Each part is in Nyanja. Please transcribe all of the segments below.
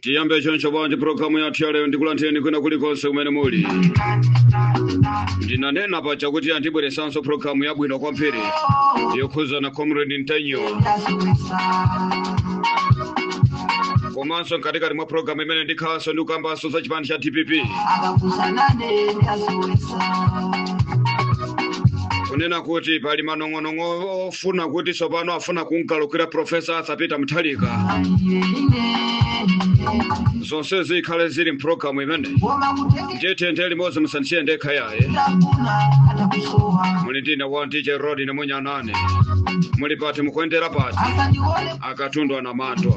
tiyambe choncho bwanji pulogalamu yathu ya lero ndikulandireni kwina kulikonse kumene muli ndinanena paja kuti ya ndibweresanso pulogalamu yabwino kwambiri yokhuzana comrade ntanyiwa komanso mkatikati mwa pulogalamu imene ndikhalanso ndikukambanso za chipani cha dpp kunena kuti pali manong'o manong'onong'o ofuna kuti tsopano afuna kumgalukira profesa arthur peter mutharika zonse zikhale zili mpulogalamu imene ndiye tiyendere limodzi musandisiye ndekha yaye muli ndine wa dj rod namunyanane muli pati mukuendera pati akatundu anamandwa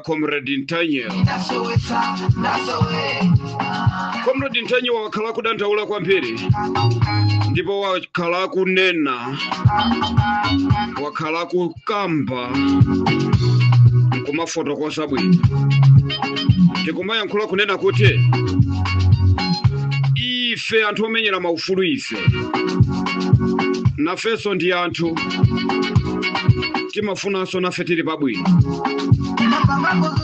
comrade ntanyiwa comrade ntanyiwa wakhala akudandaula kwambiri ndipo wakhala akunena wakhala akukamba nkumafotokoza bwino ndikumayankhula kunena kuti ife anthu omenyera maufulu ife nafenso ndi anthu timafunanso nafe tili pabwino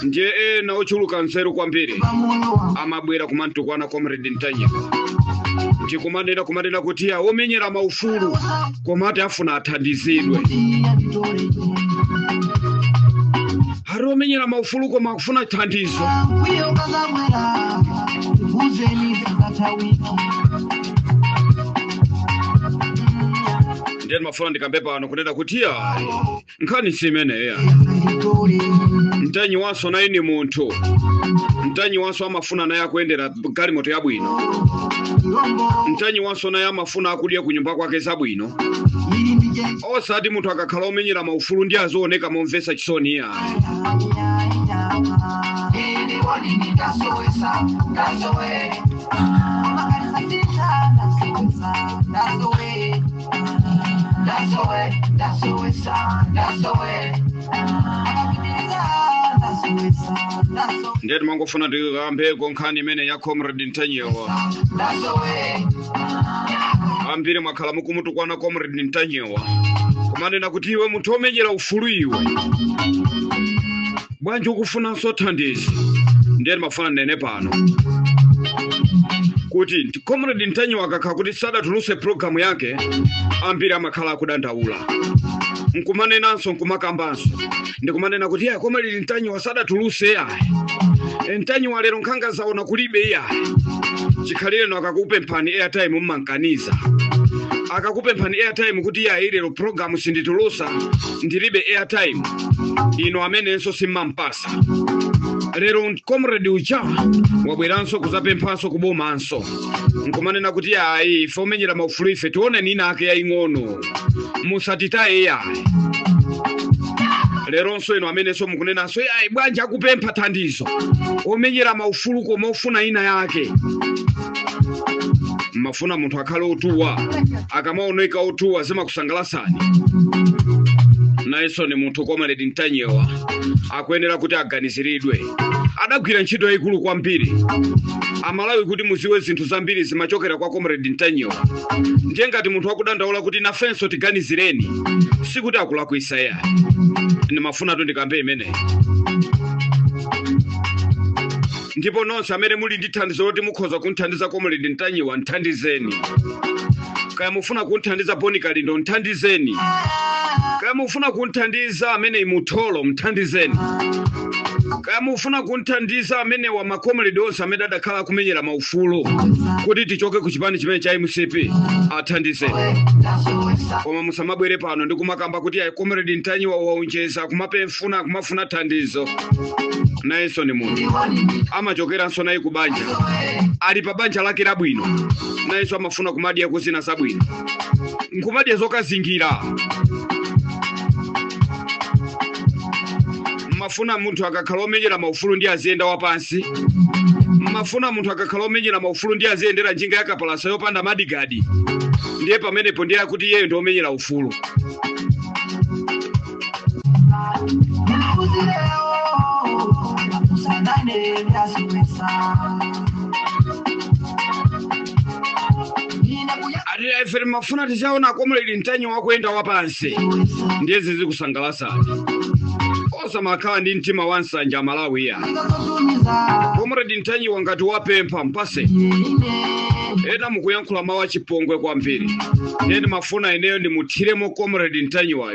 ndiye ena ochuluka nzeru kwambiri amabwera kumamtukwana comrade ntanyiwa ndikumanena kumanena kuti ya omenyera maufulu koma ati afuna athandizidwe ati omenyera maufulu koma akufuna thandizo ndiye ndimafuna ndikambe pano kunena kuti ya nkhani si imeneya ntanyiwanso naye ni munthu ntanyiwanso amafuna naye akuyendera galimoto yabwino ntanyiwanso naye amafuna akudya ku nyumba kwake zabwino osati munthu akakhala omenyera maufulu ndiye azioneka momvetsa chisoni iya ndiye timangofuna tikambeko nkhani imene ya comrade ntanyiwa ambiri mwakhala mukumutukwana comrade ntanyiwa kumanena kuti iwe munthu omenyera ufulu iwe bwanji ukufunanso thandizo ndiye ndimafuna ndinene pano kuti comrade ntanyiwa akakhala kuti sadatuluse programu yake ambiri amakhala akudandaula nkumanenanso nkumakambanso ndikumanena kuti ya comrade ntanyiwa sadatuluse yayi ntanyiwa lero nkhanga zaona kulibe yayi chikhalireno akakupemphani airtime mumamkaniza akakupemphani airtime kuti yayi lero programu sinditulusa ndilibe airtime inu amenenso simmampasa lero comrade uja wabweranso kuzapemphanso kubomanso nkumanena kuti ayi ife omenyera maufulu ife tione ni ina yake yaying'ono musatitaye yayi leronso inu amenenso mukunenanso ayi bwanji akupempha thandizo omenyera maufulu koma ofuna ina yake mmafuna munthu akhale otuwa akamaoneka otuwa zimakusangalasani nayenso ni munthu komaledi mtanyewa akuyenera kuti aganiziridwe adagwira ntchito yayikulu kwambiri amalawi kuti muziwe zinthu zambiri zimachokera kwa comrade mtanyiwa ndiye ngati munthu akudandaula kuti nafenso tiganizireni sikuti akulakwisa yayi ndimafunatu ndikambe imeneyi ndipo nonse amene muli ndi thandizo loti mukhoza kumthandiza comrade ntanyiwa mthandizeni kaya mufuna kumthandiza boni kalindo mthandizeni kaya mufuna kumthandiza amene imutholo mthandizeni kaya mufuna kumthandiza amenewa makomredi onse amene adakhala akumenyera maufulu kuti tichoke ku chipani chimene cha mcp athandizeni koma musamabwere pano ndi kumakamba kuti ayi comrade ntanyiwa waonjeza kumapempha funa kumafuna thandizo nayenso ndi munthu amachokeranso naye ku banja ali pa banja lake labwino nayenso amafuna kumadya kuzina zabwino nkumadya zokazingira mmafuna munthu akakhala omenyera maufulu ndiye aziyenda wapansi mmafuna munthu akakhala omenyera maufulu ndiye aziyendera njinga yakapalasa yopanda madigadi ndiye pamenepo ndiye akuti iyeyo ndi omenyera ufulu ati aa ife timafuna tizaona komredi mtanyiwa akuyenda wapansi ndiye zizikusangalasani osamakhala ndi mtima wa nsanja amalawi iya komredi mtanyiwa ngati wapempha mpase ena mukuyankhula mawu achipongwe kwambiri ndiye ndimafuna ineyo ndimuthiremo comrade mtanyiwayo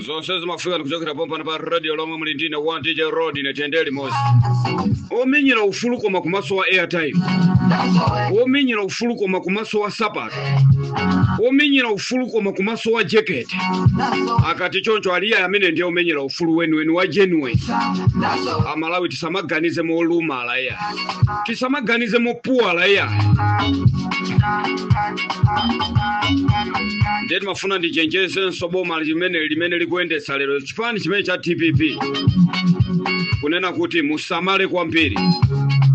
zonse zimafika ndikuchokera pompano pa radio lomwe muli ndine wa dj rodine tende limodzi omenyera ufulu koma kumaso wa airtime omenyera ufulu koma kumaso wa sapato omenyera ufulu koma kumaso wa jekete akati choncho aa iya amene ndiye omenyera ufulu weniweni wa genuine amalawi tisamaganize molumala iya tisamaganize mopuwala iyayi ndiye ndimafuna ndichenjezenso boma limene limene likuyendetsa lero chipani chimene cha dpp kunena kuti musamale kwambiri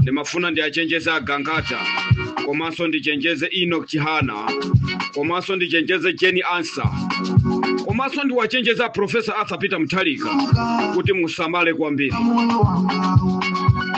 ndimafuna ndiwachenjeze a gangata komanso ndichenjeze enoch chihana komanso ndichenjeze jane ansah komanso ndiwachenjeze a profesa arthur peter mutharika kuti musamale kwambiri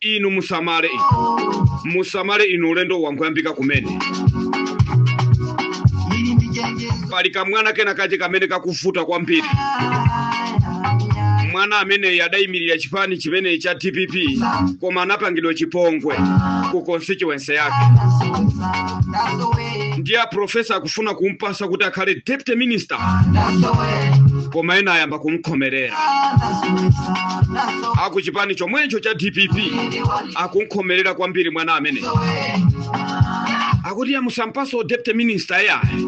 inu musamale musamale inu ulendo wangoyambika kumene pali kamwana kena kache kamene kakuvuta kwambiri mwana ameneyi adayimirira chipani chimene cha dpp koma anapangidwa chipongwe ku constituency yake ndiye a profesa akufuna kumpasa kuti akhale deputy minister koma ena ayamba kumkhomerera akuchipani chomwecho cha dpp akumkhomerera kwambiri mwana amene akuti iyayi musampatso deputy minister iyayi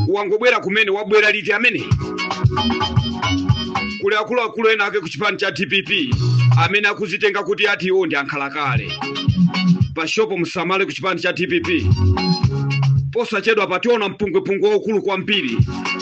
wangobwera kumene wabwera liti amene kuli akuluakulu ena ake kuchipani cha dpp amene akuzitenga kuti ati iwo ndi ankhalakale pashopo musamale kuchipani cha dpp posachedwa pationeka mpungwepungwe waukulu kwambiri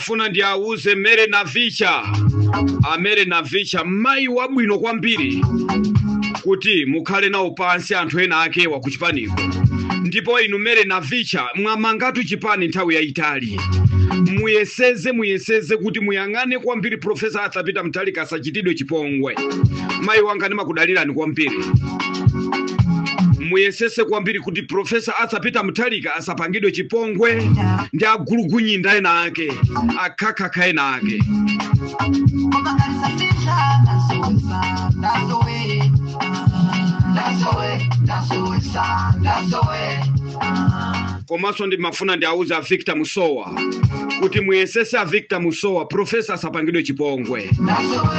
Funa ndi auze Mary Navicha, a Mary Navicha mayi wabwino kwambiri kuti mukhale nawo pansi anthu ena ake wa kuchipaniko ndipo inu Mary Navicha mwamangatu chipani nthawi yayitali muyesese muyesese kuti muyang'ane kwambiri profesa Arthur Peter Mutharika asachitidwe chipongwe mayi wanga ndimakudalirani kwambiri muyesese kwambiri kuti profesa Arthur Peter Mutharika asapangidwe chipongwe ndi agulugunyinda ena ake akhakhakha ena ake komanso ndimafuna ndiauze a victor musowa kuti muyesese a victor musowa profesa asapangidwe chipongwe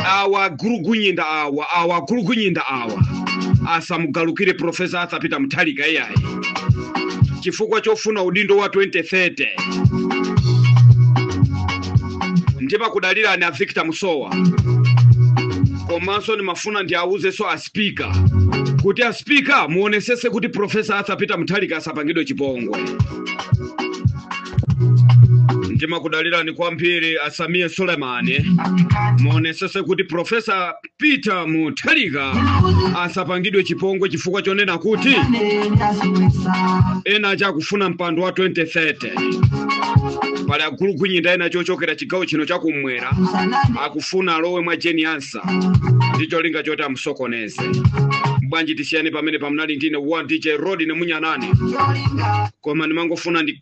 awa agulugunyinda awa awa agulugunyinda awa asamugalukire profesa arthur peter mutharika iyayi chifukwa chofuna udindo wa 2030 ndimakudalirani a victor musowa komanso ndimafuna ndiawuzenso a spika kuti a spika muonesese kuti profesa arthur peter mutharika asapangidwe chipongwe ndimakudalirani kwambiri a sameer suleman muonesese kuti profesa Peter Mutharika asapangidwe chipongwe chifukwa chonena kuti ena aja akufuna mpando wa 2030 pali agulugunyinda ena ochokera chigawo chino chakumwera akufuna alowe mwa Jane Ansah ndi cholinga choti amusokoneze. Bwanji tisiyane pamenepa munali ndine wanu dj rodney munyanane koma ndimangofuna ndi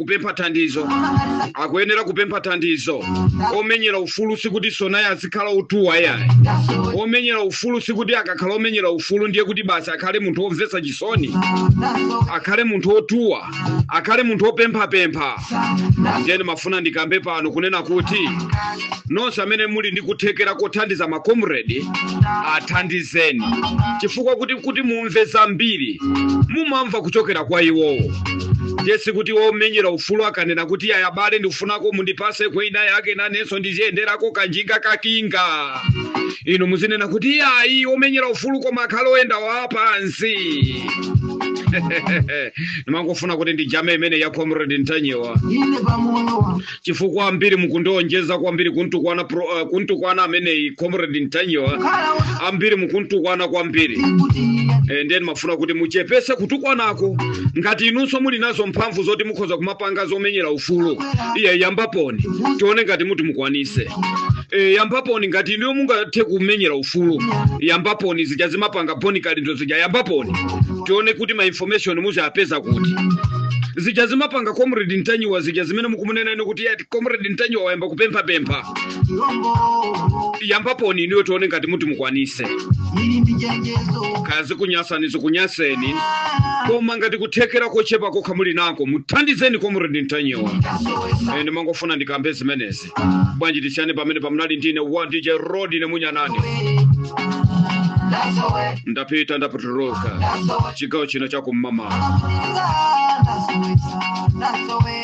kupempha thandizo akuyenera kupempha thandizo omenyera ufulu sikuti tsonayi azikhala otuwa yayi omenyera ufulu sikuti akakhala omenyera ufulu ndiye kuti basi akhale munthu womvetsa chisoni akhale munthu wotuwa akhale munthu wopemphapempha ndiye ndimafuna ndikambe pano kunena kuti nonse amene muli ndi kuthekera kothandiza makomredi athandizeni chifukwa kuti kuti mumve zambiri mumamva kuchokera kwa iwowo ndiye sikuti womenyera ufulu akanena kuti yayi abale ndifunako mundipase kwina yake nanenso ndiziyenderako kanjinga kakinga inu muzinena kuti yayi womenyera ufulu koma akhale oyenda wapansi ndimangofuna kuti ndijame imene ya comrade ntanyiwa ine pamoyo wa chifukwa ambiri mukuonjeza kwambiri kuntukwana pro, uh, kuntukwana ameneyi comrade ntanyiwa ambiri mukuntukwana kwambiri e, ndiye ndimafuna kuti muchepese kutukwanako ngati inunso muli nazo mphamvu zoti mukhoza kumapanga zomenyera ufulu iye yambaponi tione ngati muti mukwanise e, yambaponi ngati inuyo mungathe kumenyera ufulu yambaponi zija zimapanga Bon Kalindo zija yambaponi tione kuti ma information muziwapeza kuti zija zimapanga comrade ntanyiwa zija zimene mukumunena inu kuti ati comrade ntanyiwa wayamba kupemphapempha yambaponi inuyo tione ngati muti mukwanise kaya zikunyasani zikunyaseni koma ngati kuthekera kochepa kokha muli nako muthandizeni comrade ntanyiwa ine ndimangofuna ndikambe zimenezi bwanji tisiyane pamenepa munali ndine wanu dj rodney munyanani ndapita ndapotoloka chigawo chino cha kum'mawa That's the way.